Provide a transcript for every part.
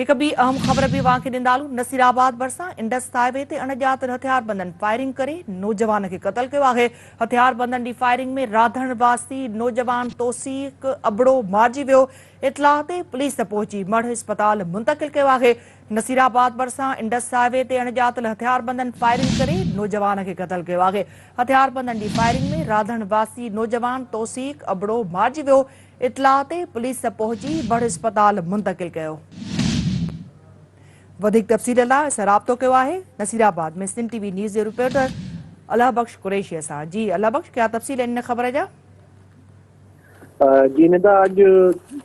هڪ ٻي اهم خبر به اوهان کي ڏيندالون نصير آباد ڀرسان انڊس هاء وي تي اڻڄاتل هٿياربندن فائرنگ ڪري نوجوان کي قتل ڪيو آهي هٿياربندن جي فائرنگ ۾ راڌڻ واسي نوجوان توصيق ابڙو مارجي ويو اطلاع تي پوليس پهچي مڙهه اسپتال منتقل ڪيو آهي نصير آباد ڀرسان انڊس هاء وي تي اڻڄاتل هٿياربندن فائرنگ ڪري نوجوان کي قتل ڪيو آهي هٿياربندن جي فائرنگ ۾ راڌڻ واسي نوجوان توصيق ابڙو مارجي ويو اطلاع تي پوليس پهچي بڙ اسپتال منتقل ڪيو. وڌيڪ تفصيل لاء اسان رابطو ڪيو آهي Nasirabad ۾ Sindh T V news جي رپورٽر الله بخش قريشي سان جي الله بخش ڪيا تفصيل ان خبر جا جي ندا اڄ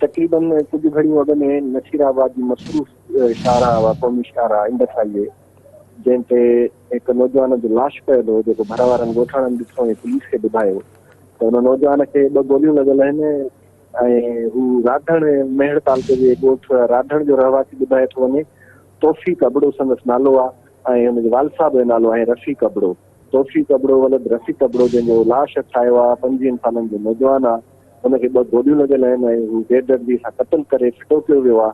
تقريبن ڪجهه گهڙيون اڳ ۾ نصير آباد جي مصروف شاهراهه قومي شاهراهه انڊس هاء وي جنهن تي هڪ نوجوان جو لاش پيل هو جيڪو ڀر وارن ڳوٺاڻن ڏٺو ۽ پوليس کي ٻڌايو ته ان نوجوان کي ٻه گوليون لڳل آهن ۽ هو راڌڻ مهڙ تعلقي جي ڳوٺ راڌڻ جو رهواسي ٻڌايو ٿو وڃي توفيق ابڙو سندس نالو آهي ۽ هن جي والد صاحب جو نالو آهي رفيق ابڙو توفيق ابڙو ولد رفيق ابڙو جنهن جو لاش هٿ آيو آهي پنجويهن سالن جو نوجوان آهي هن کي ٻه گوليون لڳل آهن ۽ هو بيدردي سان قتل ڪري ڦٽو ڪيو ويو آهي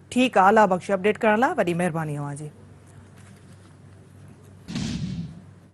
ٺيڪ آ الله بخش اپڊيٽ ڪرڻ لا وڏي مهرباني اوهان جي.